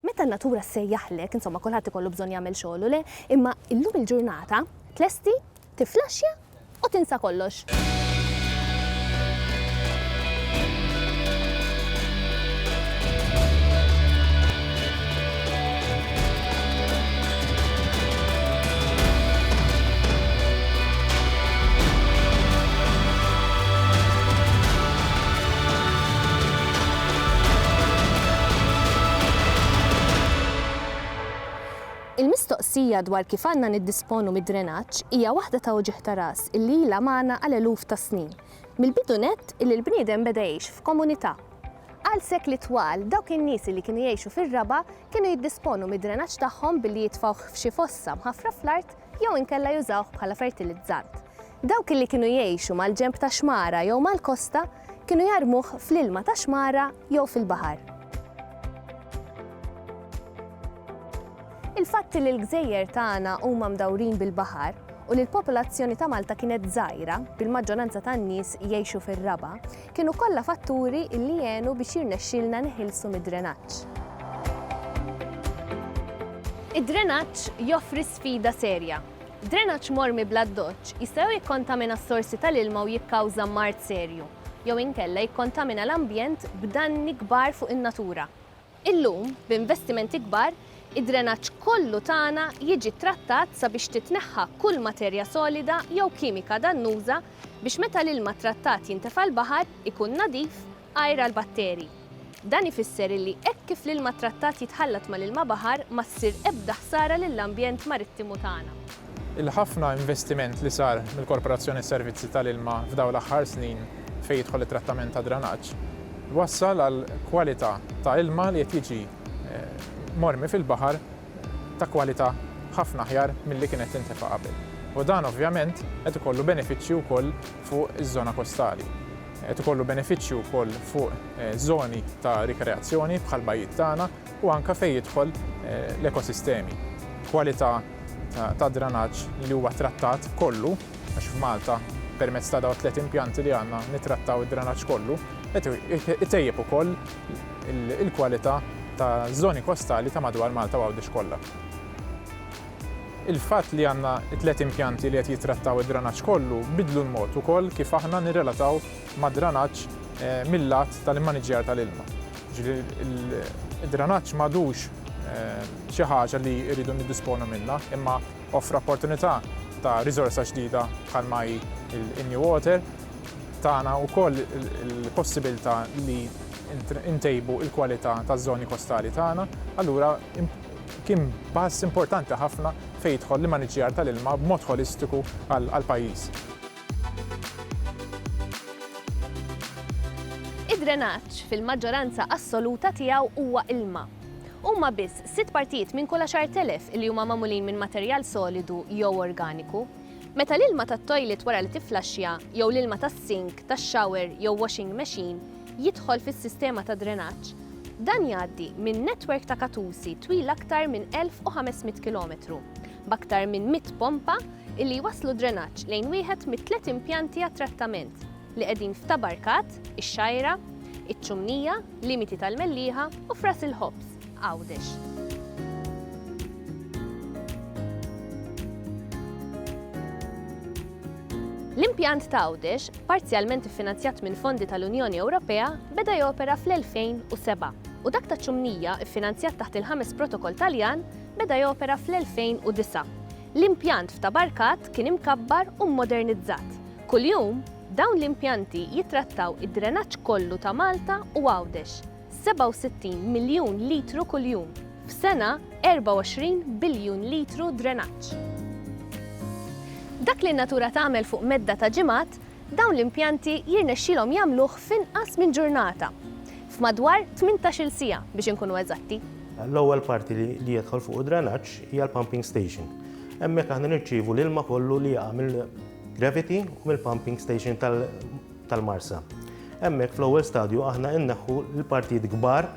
Meta n-natura ssejjaħlek, insomma kulħadd ikollu bżonn jagħmel xogħlu, le? Imma illum il-ġurnata tlesti, tiflaxxja u tinsa kollox. Il-mistoqsija dwar kif għandna niddisponu mid-drenaġġ hija waħda ta' uġigħ ta' ras illi ilha magħna għal eluf ta' snin, mill-bidu nett illi l-bniedem beda jgħix f'komunità. Għal sekli twal, dawk in-nies li kienu jgħixu fir-raba' kienu jiddisponu mid-drenaġġ tagħhom billi jitfgħuh f'xi fossa mħaffra fl-art jew inkella jużawh bħala fertilizzant. Dawk li kienu jgħixu mal-ġenb ta' xmara jew mal-kosta kienu jarmuh fl-ilma tax-xmara jew fil-baħar. Il-fatt li l-gżejjer tagħna huma mdawrin bil-baħar u li l-popolazzjoni ta' Malta kienet żgħira, bil-maġġoranza tan-nies jgħixu fir-raba', kienu kollha fatturi li għenu biex jirnexxielna niħilsu mid-drenaġġ. Id-drenaġġ joffri sfida serja. Drenaġġ mormi bl-addoċċ jista' jew jikkontamina s-sorsi tal-ilma u jikkawża mard serju, jew inkella jikkontamina l-ambjent b'danni kbar fuq in-natura. Illum, b'investimenti kbar, id-drenaġġ kollu tagħna jiġi ttrattat sabiex titneħħa kull materja solida jew kimika dannuża biex meta l-ilma ttrattat jintefa' l-baħar ikun nadif, għajr għall-batterji. Dan ifisser illi hekk kif l-ilma ttrattat jitħallat mal-ilma baħar ma ssir ebda ħsara lill-ambjent marittimu tagħna. Il-ħafna investiment li sar mill-Korporazzjoni Servizzi tal-Ilma f'dawn l-aħħar snin fejn jidħol it-trattament tad-dranaġġ, wassal għal kwalità ta' ilma li qed jiġi mormi fil-baħar ta' kwalità ħafna aħjar milli kien qed tintefa' qabel. U dan ovvjament qed ikollu benefiċċji wkoll fuq iż-żona kostali. Qed ikollu benefiċċju wkoll fuq żoni ta' rikreazzjoni bħall-bajjiet tagħna. u anke fejn jidħol l-ekosistemi. Kwalità ta' dranaġġ li huwa trattat kollu, għax f'Malta permezz ta' dawn it-tliet impjanti li għandna nittrattaw id-dranaġġ kollu, qed itejjeb ukoll il-kwalità taż-żoni kostali ta' madwar Malta u Għawdex kollha. Il-fatt li għandna t-tliet impjanti li qed jittrattaw id-dranaġġ kollu biddlu l-mod ukoll kif aħna nirrelataw mad-dranaġġ mil-lat tal-immaniġġjar tal-ilma. Ġifieri id-dranaġġ m'għadux xi ħaġa li rridu niddisponu minnha, imma offra opportunità ta' riżorsa ġdida bħalma hi l-New Water, tana wkoll il-possibilità li ntejbu l-kwalità taż-żoni kostali tagħna, allura kien pass importanti ħafna fejn jidħol l-immaniġġjar tal-ilma b'mod ħolistiku għall-pajjiż. Id-drenaġġ fil-maġġoranza assoluta tiegħu huwa ilma. Huma biss sitt partijiet minn kull 10,000 li huma magħmulin minn materjal solidu jew organiku. Meta l-ilma tat-toilet wara li tifflaxxja jew l-ilma tas-sink, tax-shower jew washing machine jidħol fis-sistema ta' drenaġġ, dan jgħaddi minn netwerk ta' katusi twil aktar minn 1,500 kilometru. b'aktar minn 100 pompa illi jwasslu d-drenaġġ lejn wieħed mit-tliet impjanti għat-trattament li qegħdin f'Ta' Barkat, ix-Xgħajra, iċ-Ċumnija, Limiti tal-Mellieħa u f'Ras il-Ħobż, Għawdex. L-impjant ta' Għawdex, parzjalment iffinanzjat minn fondi tal-Unjoni Ewropea, beda jopera fl-2007 u dak taċ-Ċumnija, iffinanzjat taħt il-ħames Protokoll Taljan, Beda jopera fl-2009. L-impjant f'Tabarkat kien imkabbar u mmodernizzat. Kuljum, dawn l-impjanti jittrattaw id-drenaġġ kollu ta' Malta u Għawdex, 67 miljun litru kuljum, f'sena 24 biljun litru drenaġġ. Dak li n-natura tagħmel fuq medda ta' ġimgħat Dawn l-impjanti jirnexxilhom jagħmluh f'inqas minn ġurnata, f'madwar tmintax-il siegħa biex inkunu eżatti. L-ewwel parti li jidħol fuq id-drenaġġ hija l-pumping station. Hemmhekk aħna nirċievu l-ilma kollu li jaqa' mill-gravity u mill-pumping station tal-Marsa. Hemmhekk fl-ewwel stadju aħna inneħħu l-partijiet kbar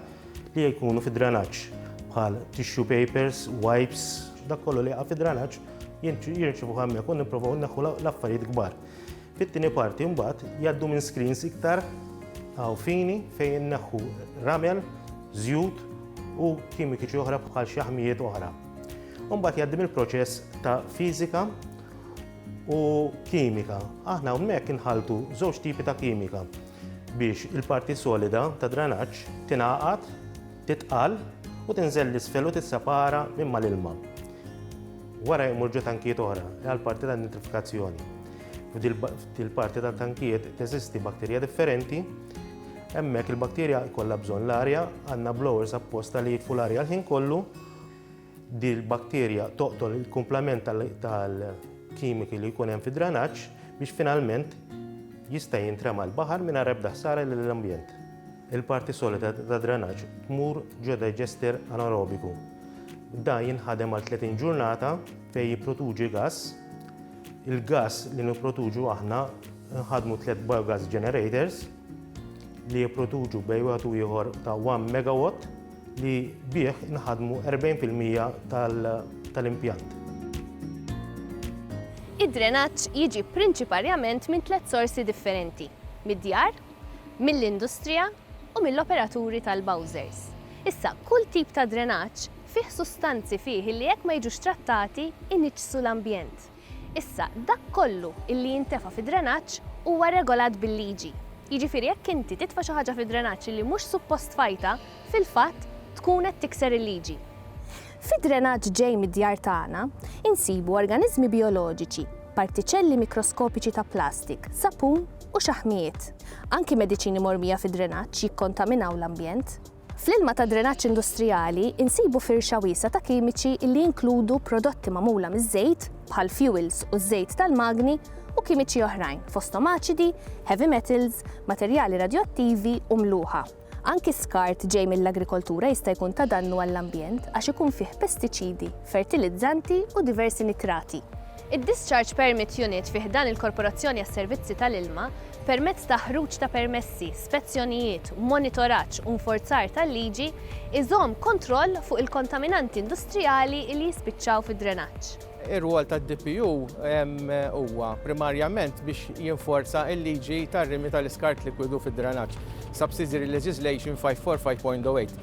li jkunu fid-drenaġġ bħal tissue papers, wipes, dak kollu li jaqa' fid-drenaġġ jirċievuh hemmhekk u nipprovaw inneħħu l-affarijiet kbar. Fit-tieni parti mbagħad jgħaddu minn screens iktar għaw fini fejn neħħu ramel, żjut u kimikiċi oħra bħal xi ħmijiet oħra. Mbagħad jgħaddim il-proċess ta' fiżika u kimika. Aħna hawnhekk inħaltu żewġ tipi ta' kimika biex il-parti solida ta' dranaġġ tingħaqad Titqal u tinżel l-isfel u tissepara minn mal-ilma. Wara jmur ġo tankijiet oħra għal parti ta' nitrifikazzjoni. F'dil parti ta' tankijiet teżisti bakterja differenti. Hemmhekk il-bakterja jkollha bżonn l-arja, għandna blowers apposta li jitfu l-arja l-ħin kollu Din il-bakterja toqtol il-kumplament tal-kimiki li jkun hemm fid-dranaġġ biex finalment jista' jintrema l-baħar mingħajr ebda ħsara lill-ambjent. Il-parti solida ta' dranaġġ tmur ġo digester anaerobiku. Da jinħadem għal 30 ġurnata fejn jipproduċi gass. Il-gass li nipproduċu aħna nħadmu tliet biogas generators li jipproduċu bejn wieħed u ieħor ta' 1 megawatt li bih inħadmu 40 fil-mija tal-impjant. Id-drenaġġ jiġi prinċiparjament minn tliet sorsi differenti, mid-djar, mill-industrija u mill-operaturi tal-bowsers. Issa, kull tip ta' drenaġġ fih sustanzi fih li jekk ma jiġux trattati, iniġġsu l-ambjent. Issa, dak kollu illi jintefa' fid-drenaġġ huwa regolat bil-liġi. Jiġifieri jekk inti titfa' xi ħaġa fid-drenaġġ illi mhux suppost tfajtha, fil-fatt tkun qed tikser il-liġi. Fid-drenaġġ ġej mid-djar tagħna, insibu organiżmi bijoloġiċi, partiċelli mikroskopiċi ta' plastik, sapun u xaħmijiet. Anki mediċini mormija fid-drenaġġ jikkontaminaw l-ambjent. Fl-ilma tad-drenaġġ industrijali nsibu firxa wiesgħa ta' kimiċi li jinkludu prodotti magħmula miż-żejt, bħal fjuwils u ż-żejt tal-magni, u kimiċi oħrajn, fosthom aċidi, heavy metals, materjali radjoattivi u mluħa. Anki skart ġej mill-agrikoltura jista' jkun ta' dannu għall-ambjent għax ikun fih pestiċidi, fertilizzanti u diversi nitrati. Id-Discharge Permit Unit fi ħdan il-Korporazzjoni għas-Servizzi tal-Ilma, permezz ta' ħruġ ta' permessi, spezzjonijiet, monitoraġġ u nforzar tal-liġi, iżomm kontroll fuq il-kontaminanti industrijali li jispiċċaw fid-drenaġġ. Ir-rwol tad-DPU huwa primarjament biex jinforza l-liġi tar-rimi tal-iskart likwidu fid-drenaġġ, Subsidiary Legislation 545.08.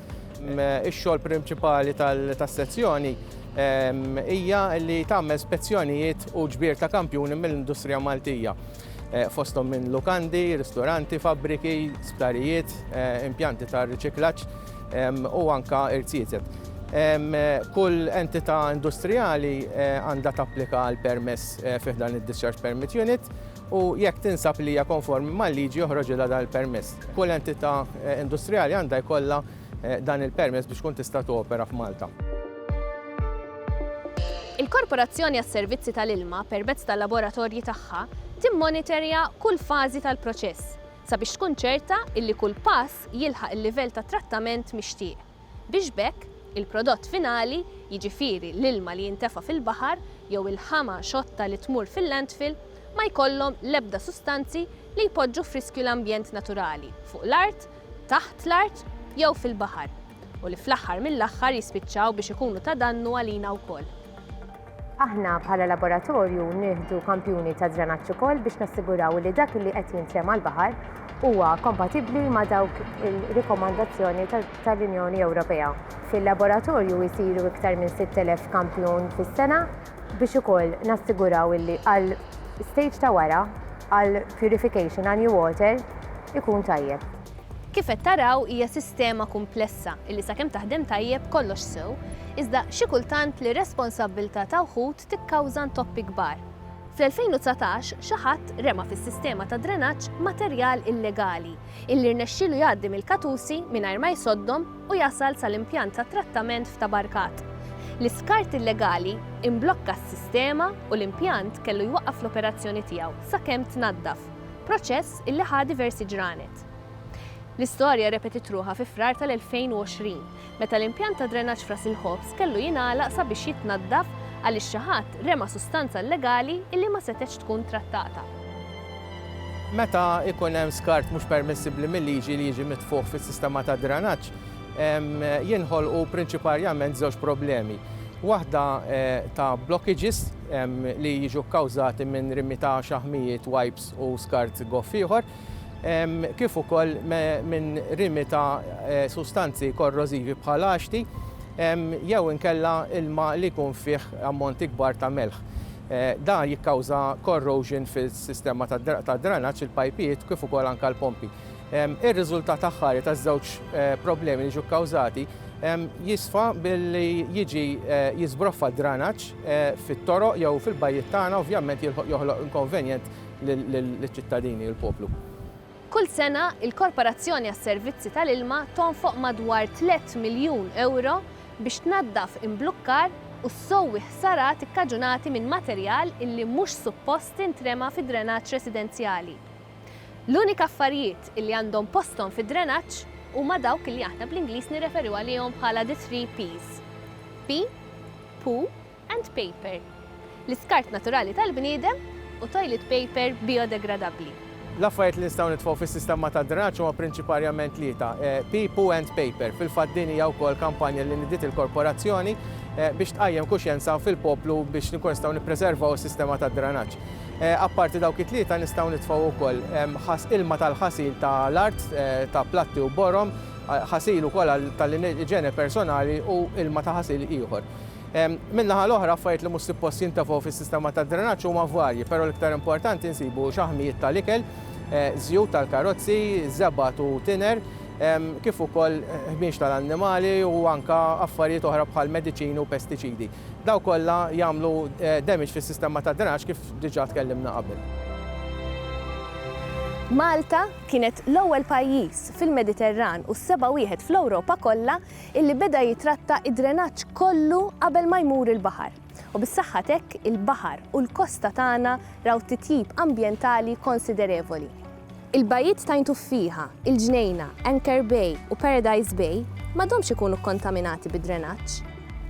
Ix-xogħol prinċipali tas-sezzjoni hija li tagħmel spezzjonijiet u ġbir ta' kampjuni mill-industrija Maltija, fosthom minn lukandi, ristoranti, fabbriki, sptarijiet, impjanti ta' riċiklaġġ u anke irziezet. Kull entità industrijali għandha tapplika għal permess fi ħdan id-Discharge Permit Unit. u jekk tinsab li hija konformi mal-liġi joħroġilha dan il-permess. Kull entità industrijali għandha jkollha dan il-permess biex tkun tista' topera f'Malta. Il-Korporazzjoni għas-Servizzi tal-Ilma, permezz tal-laboratorji tagħha, timmonitorja kull fażi tal-proċess sabiex tkun ċerta illi kull pass jilħaq il-livell ta' trattament mixtieq. biex b'hekk il-prodott finali, jiġifieri l-ilma li jintefa' fil-baħar jew il-ħama xotta li tmur fil-landfill, ma jkollhom l-ebda sustanzi li jpoġġu f'riskju l-ambjent naturali fuq l-art, taħt l-art jew fil-baħar u li fl-aħħar mill-aħħar jispiċċaw biex ikunu ta' dannu għalina wkoll. Aħna bħala laboratorju nieħdu kampjuni ta' drenaġġ ukoll biex nassiguraw li dak li qed jintrema' l-baħar huwa kompatibbli ma' dawk il-rikomandazzjoni tal-Unjoni Ewropea. Fil-laboratorju jsiru iktar minn 6,000 kampjun fis-sena biex ukoll nassiguraw li għal stage ta' wara, għal purification, għal new water, ikun tajjeb. Kif qed taraw hija sistema kumplessa illi sakemm taħdem tajjeb kollox sew, iżda xi kultant l-irresponsabbiltà ta' wħud tikkawża ntoppi kbar. Fl-2019 xi ħadd rema fis-sistema ta' drenaġġ materjal illegali illi rnexxielu jgħaddi mill-katusi mingħajr ma jsoddhom u jasal sal-impjant ta' trattament f'Tabarkat. L-iskart illegali imblokka s-sistema u l-impjant kellu jwaqqaf l-operazzjoni tiegħu sakemm tnaddaf. proċess illi ħa diversi ġranet. L-istorja repetit ruħha fi Frar tal-2020, meta l-impjant ta' drenaġġ f'Ras il-Ħobż kellu jingħalaq sabiex jitnaddaf għaliex xi ħadd rema' sustanza illegali illi ma setgħetx tkun trattata. Meta jkun hemm skart mhux permissibbli mil-liġi li jiġi mitfugħ fis-sistema tad-drenaġġ, jinħolqu prinċiparjament żewġ problemi. Waħda ta' blockages li jiġu kkawżati minn rimi ta' xaħmijiet, wipes u skart goff ieħor, kif ukoll minn rimi ta' sustanzi korrożivi bħal għaxti jew inkella ilma li jkun fih ammonti kbar ta' melħ. Dan jikkawża corrosion fis-sistema tad-dranaġġ, il-pajpijiet kif ukoll anke l-pompi. Ir-riżultat aħħari taż-żewġ problemi li ġew kkawżati jisfa billi jiġi jiżbroffa d-dranaġġ fit-toroq jew fil-bajjiet tagħna ovvjament joħloq inkonvenjent liċ-ċittadini u l-poplu. Kull sena, il-Korporazzjoni għas-Servizzi tal-Ilma tonfoq madwar tliet miljun ewro biex tnaddaf imblukkar u ssowwi ħsarat ikkaġunati minn materjal illi mhux suppost intrema fid-drenaġġ residenzjali. L-unika affarijiet li għandhom posthom fid-drenaġġ huma dawk li aħna bl-Ingliż nirreferu għalihom bħala the three P's, pee, poo and paper, l-iskart naturali tal-bniedem u toilet paper bijodegradabbli. L-affarijiet li nistgħu nitfgħu fis-sistema tad-drenaġġ huma prinċiparjament tlieta, pee, poo and paper. Fil-fatt din hija wkoll kampanja li nidiet il-Korporazzjoni biex tqajjem kuxjenza fil-poplu biex inkunu nistgħu nippreservaw is-sistema tad-drenaġġ. Apparti dawk it-tlieta nistgħu nitfgħu wkoll ħas ilma tal-ħasil ta' l-art, ta' platti u borom, ħasil ukoll għal ta' l-iġene personali u ilma ta' ħasil ieħor. Min-naħa l-oħra affarijiet li mhux suppost jintefgħu fis-sistema tad-drenaġġ huma varji, però l-iktar importanti nsibu xaħmijiet ta' l-ikel, żjut tal-karozzi, żebgħat u tiner, kif ukoll ħmieġ ta' l-annimali u anke affarijiet oħra bħal mediċini u pestiċidi. Dawn kollha jagħmlu damage fis-sistema tad-drenaġġ kif diġà tkellimna qabel. Malta kienet l-ewwel pajjiż fil-Mediterran u s-seba' wieħed fl-Ewropa kollha illi beda jitratta d-drenaġġ kollu qabel ma jmur il-baħar. U bis-saħħa t'hekk il-baħar u l-kosta tagħna raw titjib ambjentali konsiderevoli. Il-bajjiet t'Għajn Tuffieħa, il-Ġnejna, Anchor Bay u Paradise Bay m'għadhomx ikunu kkontaminati bid-drenaġġ.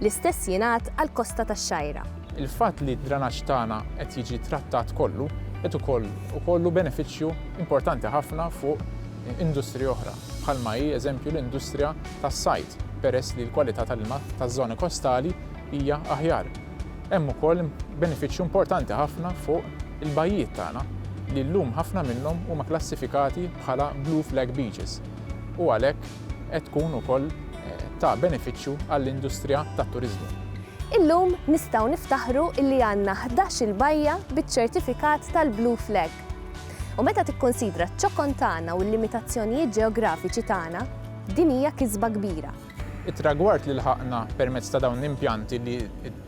L-istess jingħad għall-kosta tax-Xgħajra. Il-fatt li d-drenaġġ tagħna qed jiġi trattat kollu qed ukoll ikollu benefiċċju importanti ħafna fuq industriji oħra, bħalma hi eżempju l-industrija tas-sajd, peress li l-kwalità tal-ilma taż-żoni kostali hija aħjar. Hemm ukoll benefiċċju importanti ħafna fuq il-bajjiet tagħna li llum ħafna minnhom huma klassifikati bħala Blue Flag Beaches u għalhekk qed tkun ukoll ta' benefiċċju għall-industrija tat-turiżmu. Illum nistgħu niftaħru illi għandna ħdax-il bajja biċ-ċertifikat tal-Blue Flag. U meta tikkunsidra ċ-ċokon tagħna u l-limitazzjonijiet ġeografiċi tagħna, din hija kisba kbira. It-tragward li lħaqna permezz ta' dawn l-impjanti li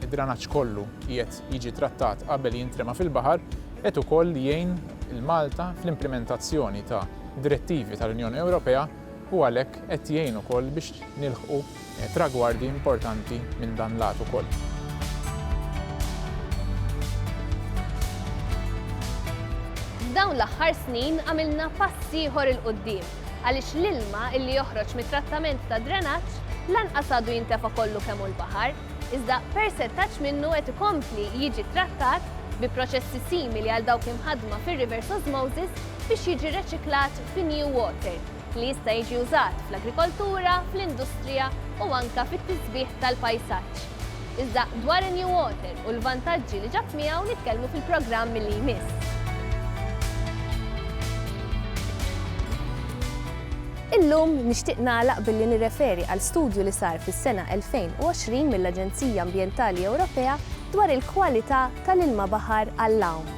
d-dranaġġ kollu qiegħed jiġi trattat qabel jintrema fil-baħar qed ukoll jgħin lil Malta fl-implimentazzjoni ta' direttivi tal-Unjoni Ewropea u għalhekk qed jgħin ukoll biex nilħqu tragwardi importanti minn dan l-għad ukoll. F'dawn l-aħħar snin għamilna pass ieħor 'il quddiem. għaliex l-ilma illi joħroġ mit-trattament tad-drenaġġ lanqas għadu jintefa' kollu kemm hu l-baħar, iżda persentaġġ minnu qed ikompli jiġi ttrattat bi proċessi simili għal dawk imħaddma fir-reverse osmosis biex jiġi reċiklat fi new water li jista' jiġi użat fl-agrikoltura, fl-industrija u anke fit-tisbiħ tal-pajsaġġ. Iżda dwar in-New Water u l-vantaġġi li ġab miegħu nitkellmu fil-programm li jmiss. Illum nixtieq nagħlaq billi nirreferi għal studju li sar fis-sena 2020 mill-Aġenzija Ambjentali Ewropea dwar il-kwalità tal-ilma baħar għall-għawm.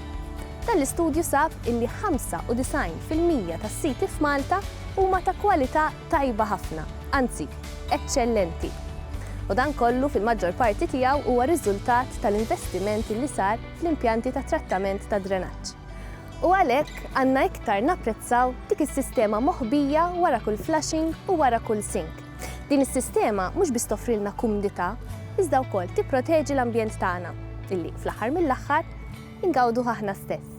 Dan l-istudju sab illi 95 fil-mija tas-siti f'Malta huma ta' kwalità tajba ħafna, anzi, eċċellenti. U dan kollu fil-maġġor parti tiegħu huwa riżultat tal-investiment li sar fl-impjanti ta' trattament tad-drenaġġ. U għalhekk għandna iktar napprezzaw dik is-sistema moħbija wara kull flushing u wara kull sink. Din is-sistema mhux biss toffrilna kumdità, iżda wkoll tipproteġi l-ambjent tagħna, illi, fl-aħħar mill-aħħar, ingawduh aħna stess.